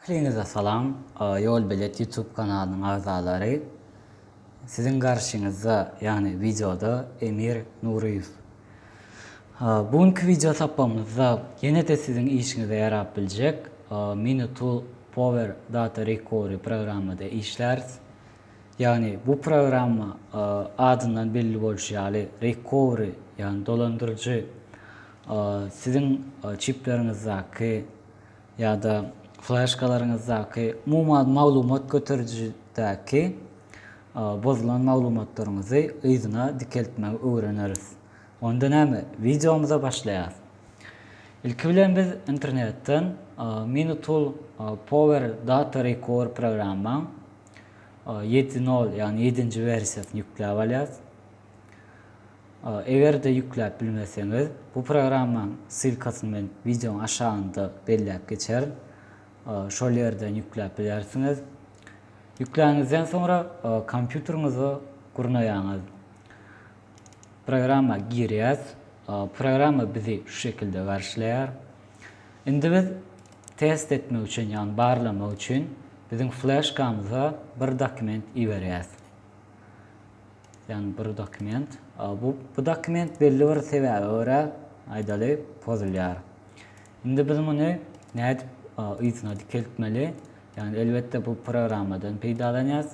Ähliňize salam, Ýolbelet YouTube kanalynyň agzalary. Siziň garşyňyzda, ýagny wideoda Emir Nuryýew. Bu günki wideo sapagymyzda ýene-de siziň işiňize ýarap biljek Mini Tool Power Data Recovery programmada işläris. Ýagny bu programma adyndan belli bolşy ýaly recovery, ýagny dolandyryjy siziň çipleriňizdaky ýa-da flaşkalaryňyzdaky umuman maglumat göterijidäki bozulan maglumatlaryňyzy yzyna dikeltmegi öwreneris. Onda näme? Wideomyza başlaýarys. Ilki bilen biz internetden Mini Tool Power Data Recovery programma Ýedi nol, ýagny ýedinji wersiýasyny ýükläp alýas. Eger-de ýükläp bilmeseňiz, bu programmaň ssylkasyny men wideoň aşagynda belläp geçerin. Şol ýerden ýükläp bilersiňiz. Ýükläniňizden soňra kompýuteriňizi gurnaýaňyz. Programma girýäs. Programma bizi şu şekilde garşylaýar. Indi biz test etmek üçin, ýagny barlamak üçin biziň fleşkamyza bir dokument iberýäs. Ýagny bir dokument. Bu bu dokument belli bir sebäbe görä, aýdaly, pozulýar. Indi biz muny nädip yzyna dikeltmeli? Ýagny elbetde bu programmadan peýdalanýas.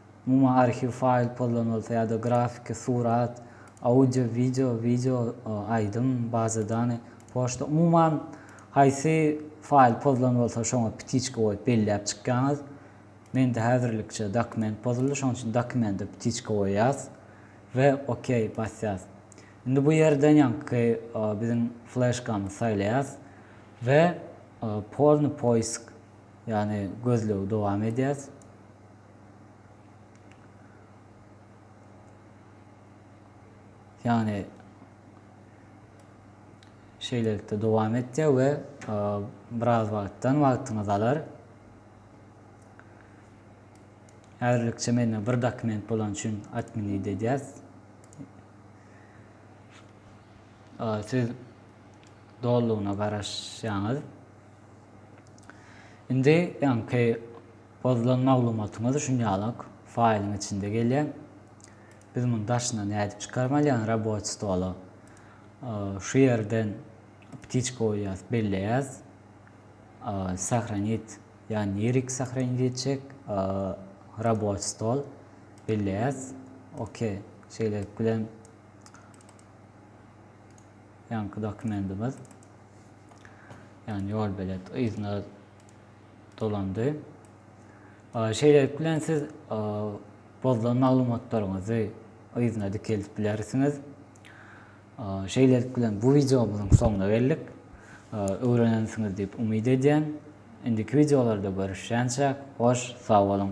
Umuman arhiw faýl pozlan bolsa ýa-da grafiki, surat, audio, wideo, wideo, aýdym, baza dany, poçta, umuman haýsy faýl pozlan bolsa şoňa ptiçka goýup belläp çykýaňyz. Mende häzirlikçe dokument pozuldy, şonuň üçin dokumente ptiçka goýýas we OK basýas. Indi bu ýerden ýaňky biziň fleşkamyzy saýlaýas we polny poisk ýagny gözlegi dowam edýäs. Yani şeýlelikde dowam etýär we e, biraz wagtdan wagtyňyzy alar. Häzirlikçe mende bir dokument bolan üçin admini edýäs. E, siz dolugyna garaşýaňyz. Indi ýaňky Pozulan maglumatyňyz üçin ýalak faýlyň içinde gelýär. Biz muny daşyna nädip çykarmaly ýagny raboçi stola şu ýerden ptiçka goýýas belleýäs sahranit ýagny nirek sahranit etjek raboçi stol belleýäs ok şeýlelik bilen ýaňky dokumentimiz ýagny ýolbelet yzyna dolandy. Şeýlelik bilen siz bozulan maglumatlaryňyzy yzyna dikeldip bilersiňiz. Şeýlelik bilen bu wideomyzyň soňuna geldik. Öwrenensiňiz diýip umyt edýän. Indiki wideolarda görüşýänçäk, hoş sag boluň!